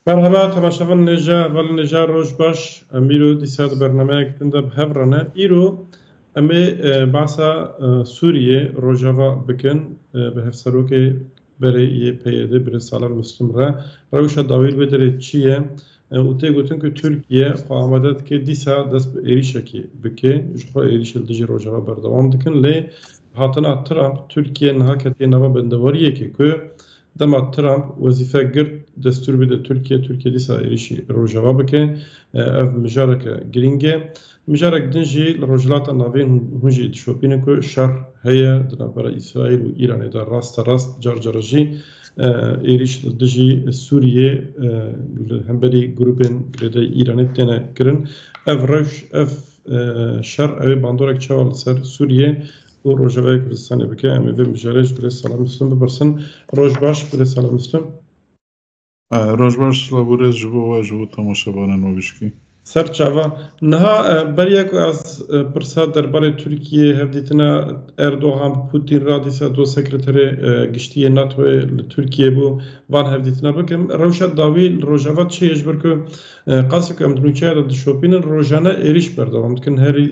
Merhaba temaşa van nêja van nêja roj baş em îro dîsa di bernameyek din de bi hev re ne îro em ê e, basa e, Sûriyê Rojava bikin e, bi hevserokê berê yê PYD bi Salan Muslim re rewşa dawîr vê derê çi ye û tê gotin ku Tirkiye xwe amade dike dîsa dest bi êrîşekê bike ji xwe êrîş li dijî Rojava berdewam dikin lê hatina Trump Tirkiye niha ketiye nava bendewariyekê ku Dema Trump wezîfe girt destûr bide Tirkiye, Tirkiye dîsa êrîşî Rojava bike. Ev mijareke girîng e. Mijarek din jî li Rojhilata Navîn hûn jî dişopînin ku şer heye di navbera Îsraîl û Îranê de raste rast car care jî êrîş li dijî Sûriyê li hemberî grûpên girêdayî Îranê têne kirin. Ev rewş, ev şer ew ê bandorek çawa li ser Sûriyê û rojevayê Kurdistanê bike. Em ê vê mijarê ji Birêz Salam Muslim bipirsin. Roj baş Birêz Salam Muslim. Roj baş Laborêz ji bo we ji bo temaşevanên me bişkî. Ser çava. Niha beriya ku ez pirsa derbarê Tirkiyeyê hevdîtina Erdogan bi Putin re dîsa doz sekreterê giştî yê NATOyê li Tirkiyeyê bû van hevdîtina bikim. Rewşa dawî li Rojava çi ye ji ber ku qasî ku em di nûçeya de dişopînin rojane êrîş berdewam dikin herî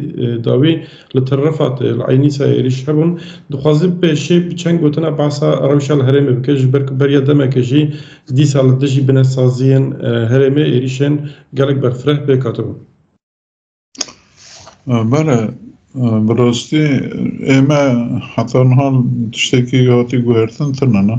dawî Li Tirrifat ê li Eynîsa êrîş hebûn. Dixwazî pêşê bi çend gotina behsa rewşa li herêmê bike ji ber ku beriya demekê jî dîsa li dijî binesaziyên herêmê êrîşên gelek berfireh pêk hatibû. Bale, bi rastî ême heta niha tiştekî hatî guhertin tune ne.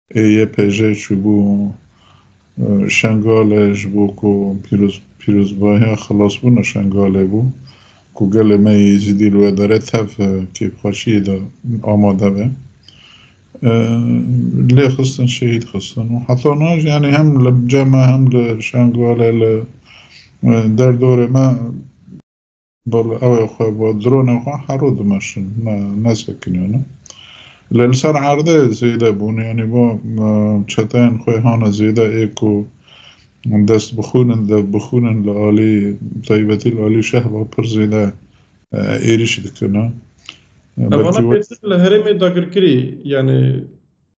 YPJ çûbû Şengalê ji bo ku pîrozbahiya xilasbûna Şengalê bû ku gelê me yê Êzidî li wê derê tev kêfxweşiyê de amade be. Lê xistin şehîd xistin û heta niha jî yanî hem li cem e hem li Şengalê li derdorê me Bala ew ê xwe bi dronên xwe hero dimeşin, ne nesekiniyonin. Lê li ser erdê zêde bûn, yanî bo çeteyên xwe hane zêde ê ku dest bixwînin, dev bixwînin li alî taybetî li alî şehba pir zêde êrîş dikine. Belkî Vana pêştir li herêmê dagirkirî yanî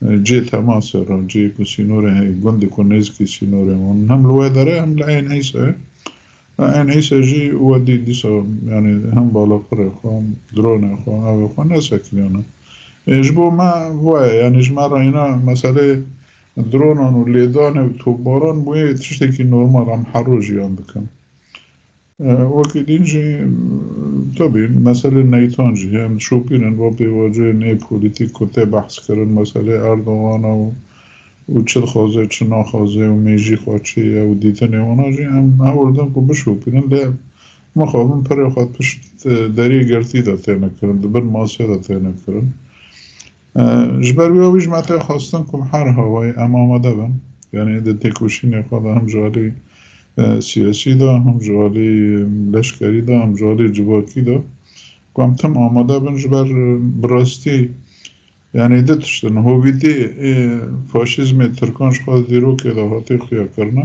Cihê temase re, cihê ku sînorên heye, gundê ku nêzîkî sînorên wan in hem li wê dere hem li Eyn Îse ye. Eyn Îse jî wedî dîsa yanî hem balafirê xwe, hem dronê xwe, avê xwe nesekiriyane. Ê ji bo me waya yanî ji me re îna meseleyê dronan û lêdanê û topbaran bûye tiştekî normal em her roj jiyan dikin. Wekî din jî tevî meselê neytan jî yên şopîn in bo pêvaciyên nê polîtîk ku tê behs kirin meselê Erdogan e û û çi dixwaze çi naxwaze û mêjî xwe çi ye û dîtinê wana jî em hewl din ku bişopînin lê mixabin pirê xwe pişt deriyê girtî de têne kirin di bin masê de têne kirin. Ji ber wî wî ji me tê xwestin ku her hawayê em amade bin. Yanî di têkoşînê xwe de hem ji alî siyasî de, hem ji alî leşkerî de, hem ji alî civakî de ku em tim amade bin ji ber bi rastî yanî du tişt in. Hovîtî ê faşîzmê Tirkan ji xwe di dîrokê de hatê xuya kirine.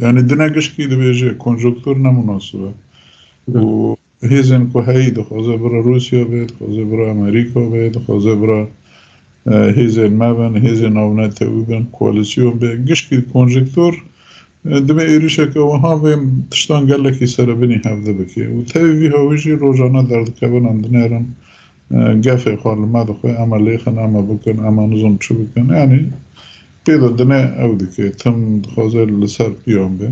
Yani dine giştî dibêje konjonktur ne munasib e. Û hêzên ku heyî dixwaze bira Rûsya be, dixwaze bira Amerîka be, dixwaze bira hêzên me bin, hêzên navnetewî bin, koalîsyon be. Giştî konjonktur divê êrîşeke wiha vê tiştan gelekî serebinî hevde bike. Û tevî vî hawî jî rojane derdikevinan dinerin Gefê xwe li me dixwe, eme lêxin, eme bikin, eme nizom çi bikin. Yanî pê de dine ew dike. Tim dixwaze li ser piyan be.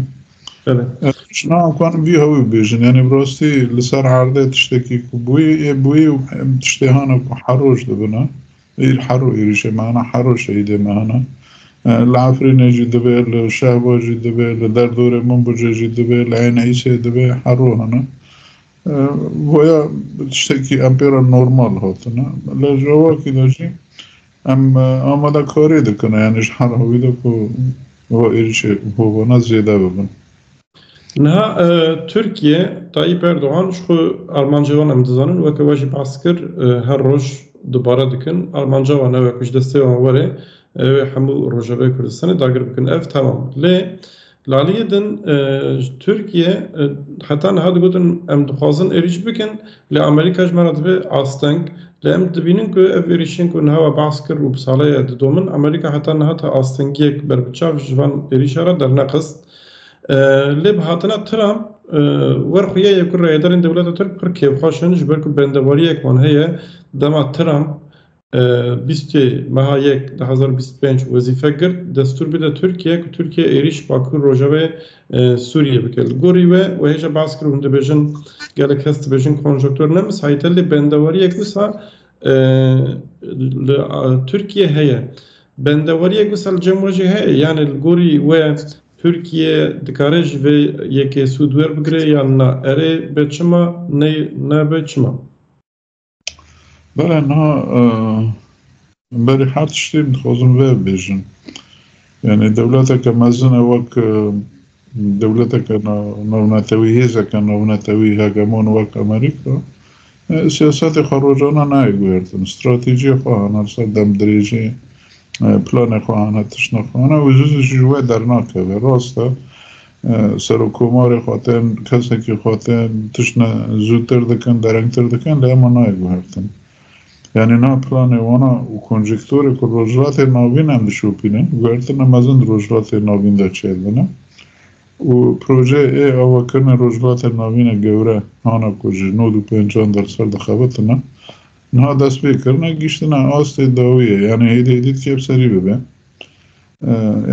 Ji na kanim vî hewî bibêjin. Yanî bi rastî li ser erdê tiştekî ku bûyî ê bûyî û tiştê hene ku heroj dibine. Îr hero êrîşê me hene, hero şehîdê me hene. Li Efrînê jî dibe, li Şehba jî dibe, li derdorê Minbicê jî dibe, li Ênîsê dibe, hero hene. Boya tiştekî em pê re normal hatine. Li cewakî de jî em amadekarî dikin yanî ji hera wî de ku va êrîşê hovana zêde bibin. Niha Tirkiye Tayyîp Erdogan ji xwe armancê wan em dizanin weke we jî behs kir her roj dubare dikin armanca wan ew e ku ji destê wan were ew ê hemû rojavayê Kurdistanê dagir bikin ev temam lê Li aliyê din ji Tirkiye heta niha digotin em dixwazin êrîş bikin lê Amerîka ji me re dibe asteng. Lê em dibînin ku ev êrîşên ku niha we behs kir û bi sale ye didomin, Amerîka heta niha ta astengiyek berbiçav ji van êrîşan re dernexist. Lê bi hatina Trump wer xuya ye ku rayedarên dewleta Tirk pir kêfxweş in ji ber ku bendewariyek wan heye dema Trump Bîstê meha yek du hezar û bîst û pênc wezîfe girt destûr bide Tirkiye ku Tirkiye êrîş Bakur Rojavayê Sûriyê bike. Li gorî we we hêja behs kir û hûn dibêjin gelek kes dibêjin konjonktûr ne misahîte lê bendeweriyek wisa li Tirkiye heye. Bendeweriyek wisa li cem we jî heye yanê li gorî we Tirkiye dikare ji vê yekê sûd werbigire yan na? Erê be çima ney nebe çima? Bere na berê her tiştê dixwazim vê bêjin. Yani dewleteke mezine wek dewleteke navnetewî hêzeke navnetewî hegemon wek Amerîka siyasetê xwe rojana nayê guhertin. Stratejiyê xwe hana ser dem dirêjê planê xwe hana tişna xwe hana û zû zû jî ji we dernakeve. Rast e Serokkomarê xwe tên, kesekî xwe tên, tiştine zûtir dikin, derengtir dikin lê ema nayê guhertin. Yanî niha planê wan a û konjektorê ku Rojhilatê Navîn em dişopînin, guhertina mezin di Rojhilatê Navîn de çêdibine û projeyê ê avakirinê Rojhilatê Navîne gewre hana ku ji nod û pêncan derser dixebitine, niha destpêkirine, gihîştine astê dawiyê, yanî hêdî hêdî dikê bi serî bibe.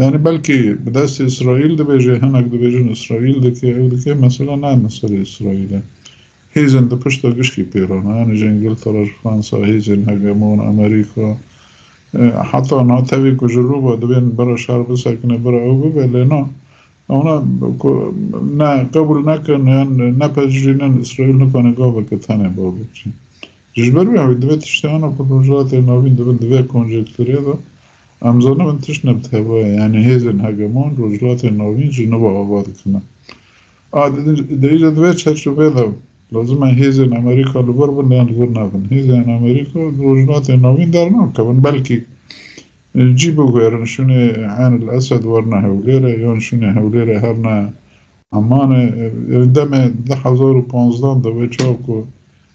Yani belkî bi destê Îsraîl dibêje, hinek dibêjin Îsraîl dike, ew dike, mesela ne meselê Îsraîl e. Hêzên di pişta gişkî pêran e. Yani ji Îngiltere, ji Fransa, hêzên hegemon, Amerîka, heta na tevî ku ji rûva divên bira şer bisekine, bira ew bibe lê na. Ona ku ne qebûl nekin yan nepejirînin Îsraîl nikane gaveke tenê ba bikî. Ji ber wê hewî divê tiştana ku Rojhilatê Navîn dibin di vê konjektûrê de em zanibin tişt ne bi tevaye yanî hêzên hegemon Rojhilatê Navîn ji nû ve ava dikin e. A di îja di vê çerçeveyê de lazim e hêzên Amerîka li vir bin yan li vir nebin. Hêzên Amerîka li Rojhilatê Navîn dernakevin belkî cî biguherin şûnê Eyn el Esed werna Hewlêrê yan şûnê Hewlêrê her ne Emanê demê di hezar û panzdan de wê çawa ku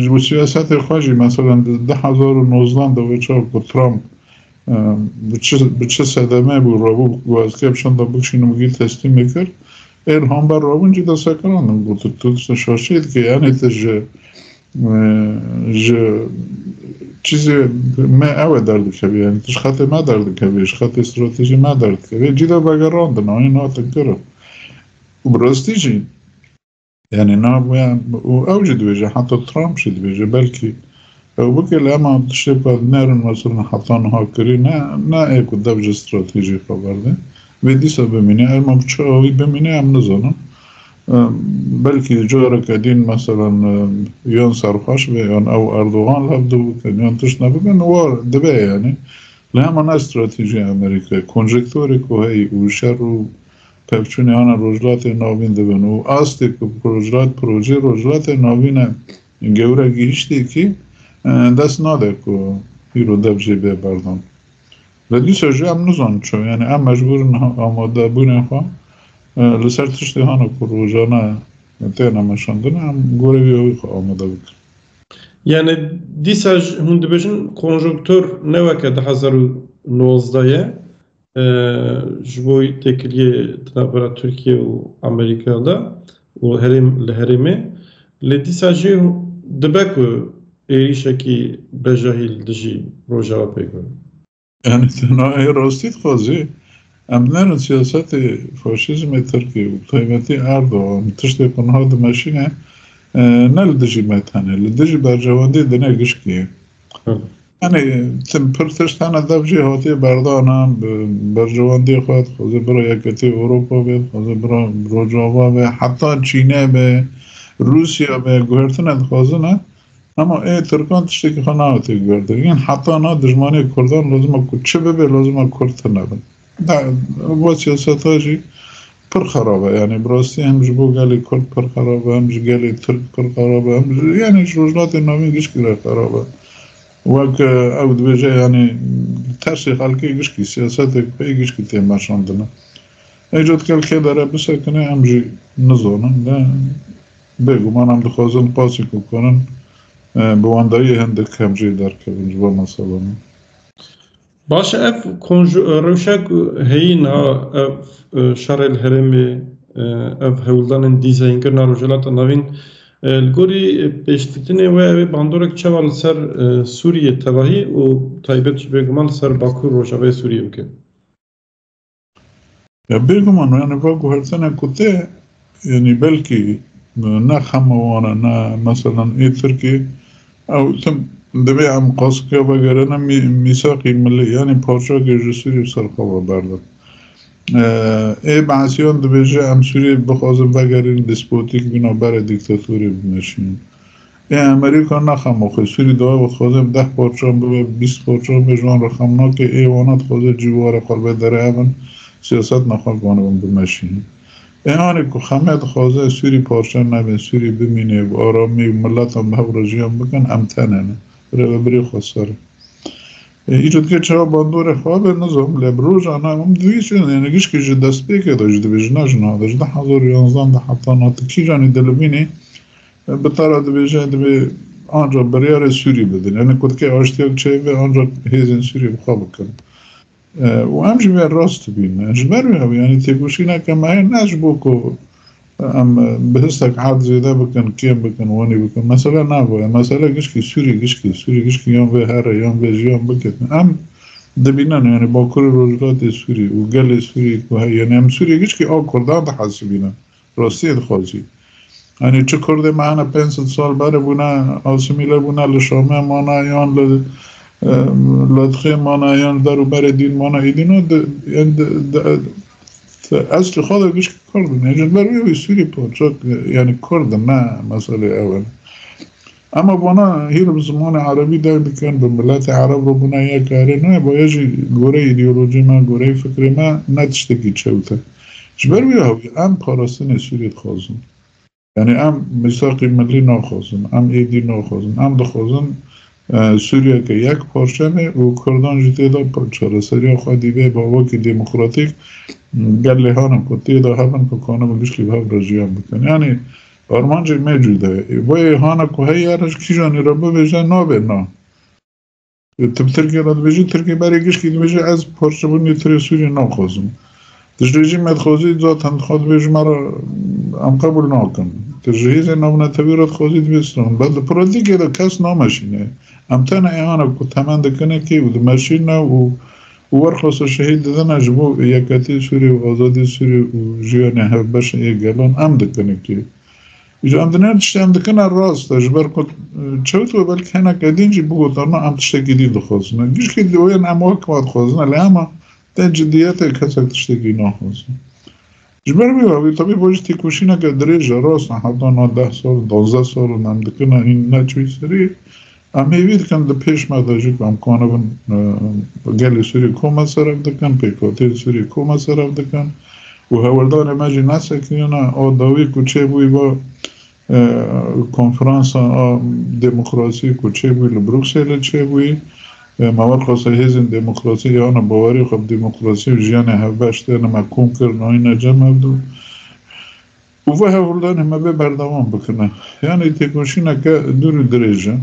Ji bo siyasetê xwe jî meselem di du hezar û nozdan de wê çav ku Trump bi çi sedemê bû rabû ku ez kê bi şanda bikşînim û gîl teslîmê kir. Ê li hember rabûn jî destekirandim got tu diştê şaşê dikê yanê tu ji ji çîzê me ew e derdikevî yanî tu ji xetê me derdikevî ji xetê stratejî me derdikevî cî de vegerandin anî natin kirin. Bi rastî jî Yani nabûye û ew jî dibêje heta Trump jî dibêje belkî ew bike li hema tiştê bi nerin meselin heta niha kirî ne ne ê ku dev ji stratejî xwe berde vê dîsa bimîne her ma biçe wî bimîne em nizanin belkî careke dîn meselin yan serxweş be yan ew Erdogan li hev bikin yan tişt nebibin war dibe yani li hema ne stratejî Amerîka konjektûrê ku heyî û şer û Pevçûnê ana Rojhilatê Navîn dibin û astê ku rojhilat projeyê Rojhilatê Navîn e gewre gihîştêkî dest nade ku îro dev jê bê berdan. Lê dîsa jî em nizanin çawa yanî em mecbûr in amadebûnê xwe li ser tiştê hana ku rojane têne meşandin em gorî vî awî xwe amade bikin. Yanî dîsa hûn dibêjin konjonktur ne weke du hezar û nozdeh ye Ji bo têkiliyê di navbera Tirkiye û Amerîka de û herêm li herêmê lê dîsa jî dibe ku êrîşekî bejahî li dijî Rojava pêk be. Yanî tena ê rastî dixwazê. Em binerin siyasetê faşîzmê Tirkî û bi taybetî Erdogan tiştê ku niha dimeşîne ne li dijî me tenê li dijî berjewendî dine gişkî ye. Hani tim pir tiştane dev jî hatiye berdana berjewendê xwe dixwaze bira yeketê Ewropa be dixwaze bira Rojava be heta Çîne be Rûsya be guhertine dixwazine hema ê Tirkan tiştekî xwe naetê guhertin heta na dijmanê Kurdan lazima ku çi bibe lazima Kurd tune bin. Ava siyaseta jî pir xerab e. Yanî bi rastî hem ji bo gelê Kurd pir xerab e, hem ji gelê Tirk pir xerab e, hem ji yanî ji rojhilatên navîn gişkî re xerab e. Wek ew dibêje yanî li tersê xelkê gişkî siyasetê pey gişkî tê meşandine. Îca dikel kê dere bisekine em jî nizanin ne bêguman em dixwazin qasî ku karin bi wendayî hindik hem jê derkevin ji van meselane. Baş e ev rewşa ku heyîn a ev şerê li herêmê ev hewldanên dîzeynkirina Rojhilata Navîn li gorî pêşditinê we ew ê bandorek çawa li ser Sûriyê tevahî û taybet jî bêguman li ser Bakur Rojavayê Sûriyê bike. Ya bêguman yani va guhertene ku te yani belkî ne xema wan e ne meselan ê Tirkiyê ew tim divê em qasika vegerine mîsaqî milî yanî parçakê ji Sûriyê serxwe berdin. Ê behesiyan dibêje em Sûriyê bixwazin vegerîn despotîk bîna berê dîktatorê bimeşînin. Yê Amerîka naxe ma xwe sûrî daye û dixwaze bi deh parçan bibe, bi bîst parçan bibe ji wan re xem nake, ê wana dixwaze cî ware xwe ribe derehevin, siyaset naxwe bivanibin bimeşînin. Ê anê ku xeme dixwaze sûrî parçe nebin, sûrî bimîne bi aramî û miletan bi hev re jiyan bikin em tene ne. Rêvebirê xwe ser e. Îcar dike çawa bandorê xwe be nizam lê bi roja ne em divîsin yêne gişkî ji destpêkê de jî divê jina jin hate ji du hezar û yanzdeh de heta na tu kîjanî dilivînî Bi tara dibêjin divê ancak biryarê Sûrî bidin. Yani kutkê aştiya bi çeyê ve ancak hêzên Sûrî bi xwe bikin. û em jî vê rast dibîn. Ji ber wê ew yanî têkoşîneke me heye ne ji bo ku em bi histek erd zêde bikin, kêm bikin, wanî bikin. Mesele nav e. Mesele gişkî Sûrî gişkî, Sûrî gişkî yan vê here, yan vê jiyan biketin. Em dibînin yanî Bakurê Rojhilatê Sûrî û gelê Sûrî ku heye. Yanî em Sûrî gişkî a Kurdan dihesibînin. Rastiyê dixwazî. Yanî çi Kurdê me hene pênc sed sal berê bûne, asîmîle bûne, li Şamê mane yan li Ladixê mane yan li der û berê dîn mane êdî ne eslê xwe de gişt Kurd in. Ji ber wê wî Sûrî parçek yanî Kurd in ne meselê ew in. Ema vana hîr bi zimanê erebî deng dikin, bi miletê ereb re bûna yek karê nayê, bo yê jî goreyê îdeolojiyê me, goreyê fikrê me ne tiştekî çewt e. Ji ber vî awî em parastinê Sûriyê dixwazin. Yanî em mîsaqî milî naxwazin, em êdî naxwazin. Em dixwazin Sûriyeke yek parçe bê û kurdan jî tê de çareseriya xwe dîbe ba wekî demokratîk gel lêhanin ku tê de hebin ku kanibin giştî bi hev re jiyan bikin. Yanî Armancê me cuda ye. Ê boyê hana ku heye re ji kîjan ê re bibêje nabe na. Tu bi Tirkê re dibêjî, Tirkê berê gişkî dibêje ez parçebûnê tirê Sûriyê naxwazim. Tu ji rejîm me dixwazî zaten dixwaz dibê ji me re em qebûl nakin. Tu ji hêzên navnetewî re dixwazî dibê stranbû. Bes di pratîkê de kes nameşîne. Em tena ê hana ku temen dikine kê û dimeşîne û Û werxwesa şehîd didana ji bo yekhetî Sûriyê û azadî Sûriyê û jiyana hevbeşa yê gelan em dikin e kê? Îja em din her tiştê em dikin e rast e ji ber ku çewt we belkî hineke din jî bigota na em tiştekî din dixwazin e. Gişkî dîoyan em wek wadixwazin e lê hema te cidîyetê kesek tiştekî naxwaze. Ji ber vê avê tevî bo ji têkoşîneke dirêj e rast e heta na deh sal duwazdeh sal in em dikin e hîn neçûy serê em hêvî dikin di pêş me de jî ku em kanibin gelê Sûriyê kom e serev dikin pêkhateyên Sûriyê kom e serev dikin û hewldanê me jî nesekirîne a dawî ku çêbûyî va Konferansa a Demokrasî ku çêbû li Brukselê çêbûyî, me werxweste hêzên demokrasî ya na bawerî xwe bi demokrasî û jiyanê hevbeş de ne me kom kir nayîne cem ev du û vê hevhuldanê me bê berdewam bikine. Yanî têkoşîneke dûr û dirêj e.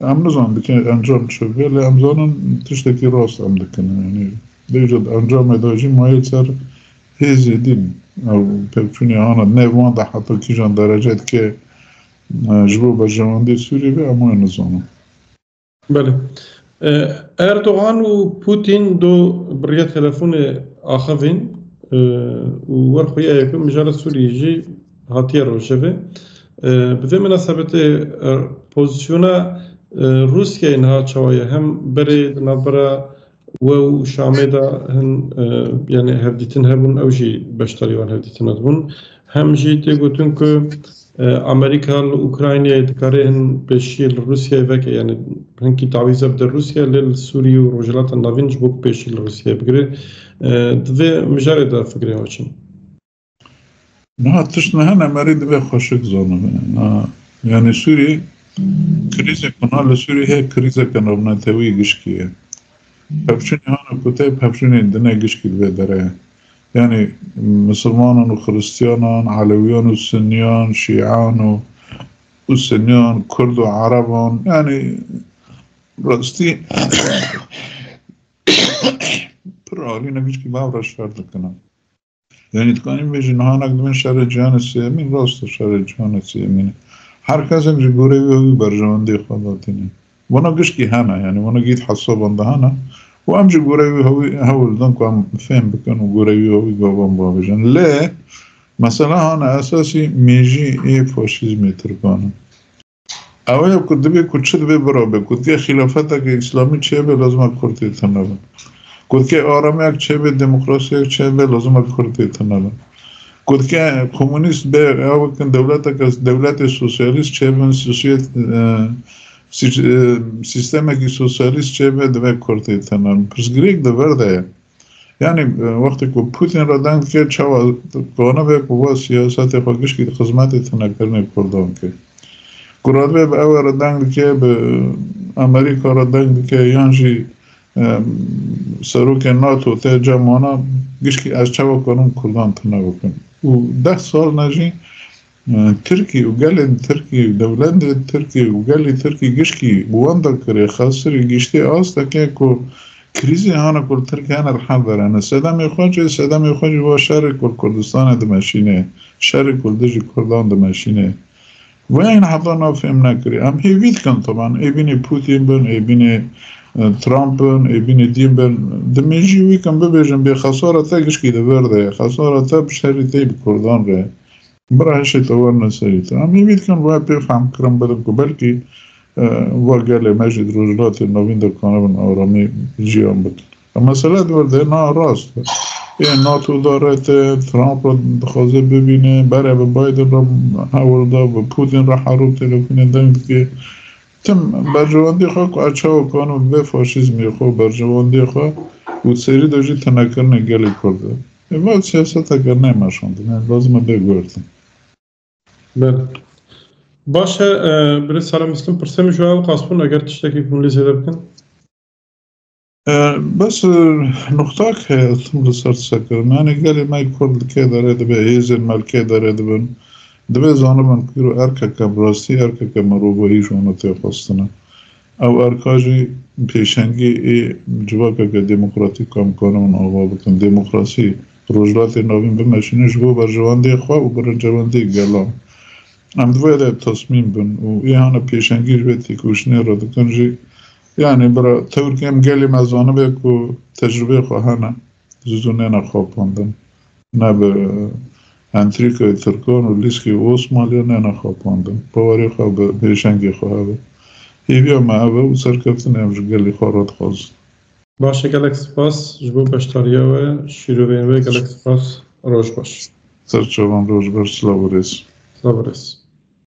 Em nizan dike encam çi be lê em zanin tiştekî rast em dikin yanî dêje di encamê de jî mayê ser hêzê dîn ew pevçûnê ana ne wan de heta kîjan derece dike ji bo berjewendê Sûriyê ve em wê nizanin. Belê. Erdogan û Pûtîn do bi riya telefonê axivîn û wer xuya yekun mijara Sûriyê jî hatiye rojevê. Bi vê minasebetê pozîsyona Rûsyayê niha çawa ye? Hem berê di navbera we û Şamê de hin yanî hevdîtin hebûn, ew jî beşdarî wan hevdîtina dibûn. Hem jî tê gotin ku Amerîka li Ukraynayê dikarê hin pêşiyê li Rûsyayê veke yanî hinkî tawîze bide Rûsyayê lê li Sûriyê û Rojhilata Navîn ji bo ku pêşî li Rûsyayê bigire. Di vê mijarê de fikrê xwe çi ye? Niha tişt ne hene merî divê xweşik zanibe. Yanî Sûriyê krîzek bina li Sûriyê heye krîzeke navnetewî gişkî ye. Pevçûnê hana koteyê pevçûnê dine gişkî divê dere. Yanî misilmanan û xiristiyanan, elewiyan û suniyan, şîan û û suniyan, kurd û ereban yanî rastî pir alîne gişkî bavra şer dikine. Yani dikanîm bêjin nihanek di bin şerê cîhanê sêyemîn rast e şerê cîhanê sêyemîn e. Her kesek ji gorê wê wî berjewendiyê xwe datîne. Vana giştî hene yani vana gît hesaban de hene û em ji gorê wî hewî hewl didin ku em fêm bikin û gorê wî hewî gavan bavêjin. Lê mesela hane esasî mêjî ê faşîzmê tirkan e. Ew ya ku divê ku çi divê birabe, gotiye xîlafeteke îslamî çêbe lazima kurd tê tune bin. Gotiye aramiyek çêbe, demokrasiyek çêbe lazima kurd tê tune bin. Gotiye komûnîst be ya wekin dewleteke dewletê sosyalîst çêbin, sosyet sistemekî sosyalîst çêbe divê kurd tê tune bin. Pirsgirêk di vir de ye. Yani wextê ku Putin re deng dike çawa dikane be ku va siyasetê xwe gişkî di xizmetê tinekirinê Kurdan ke. Ku radibê bi ew re deng dike, bi Amerîka re deng dike yan jî serokê NATO te ca mana gişkî ez çawa karim Kurdan tine bikim. Û deh sal ne jî Tirkî û gelên Tirkî, dewlendên Tirkî û gelê Tirkî gişkî bi wan da kirê xesirî gîştê asteke ku krîzê hana ku li Tirkî hene li hev verene. Sedemê xwe jî sedemê xwe jî va şerê ku li Kurdistanê dimeşînê, şerê ku li dijî Kurdan dimeşînê. Wayên heta nav fêm nekirî. Em hêvî dikin taban ê bînê Pûtîn bin, ê bînê Trump bin, ê bînê dîn bin. Dimêjî wî kin bibêjin bê xesara te gişkî li vir de ye, xesara te bi şerî tê bi Kurdan re. Bira hişê te werine serî te. Em îmîd dikin wê pê fehm kirin bidin ku belkî va gelê me jî di rojhilatê navîn de kanibin aramî jiyan bikin. E mesele di wir de na rast e. Ê NATO da rete, Trump re dixwaze bibîne, bere bi Biden re hewil da, bi Putin re herû telefûnê deng dike. Tim berjewendiyê xwe ku ez çawa kanim vê faşîzmê xwe berjewendiyê xwe û serî de jî tinekirinê gelê Kurd e. Eva siyaseteke ne meşandine lazim e bê guhertin. Bel. Baş e birê Sara Mislum pirsê min ji ew qas bûn eger tiştekî bûn lê zêde bikin. Bes nuxtak heye ez tim li ser sekirim yanî gelê me kurd li kê derê dibe hêzên me li kê derê dibin dibê zanibin ku îro erkeke bi rastî erkeke mirovahî ji wan tê xwestin e. Ew erka jî pêşengî ê civakeke demokratîk a mkane hûn ava bikin. Demokrasî Rojhilatê Navîn bimeşîne ji bo berjewendê xwe û birincewendê gelan. Em di vê de tesmîm bin û îhana pêşengî ji vê têkoşînê re dikin jî. Yanî bira tewr kêm gelê me zanibe ku tecrûbeyê xwe hene. Ji zû nêne xapandin. Ne bi entrîkayê Tirkan û lîskê Osmaliya nêne xapandin. Bawerê xwe bi pêşengê xwe hebe. Hêviya me ev e û serkeftinê em ji gelê xwe re dixwazin. Baş e gelek spas ji bo beşdariya we şîrovên wê gelek spas roj baş. Serçevan roj baş silav û rêz. Silav û rêz.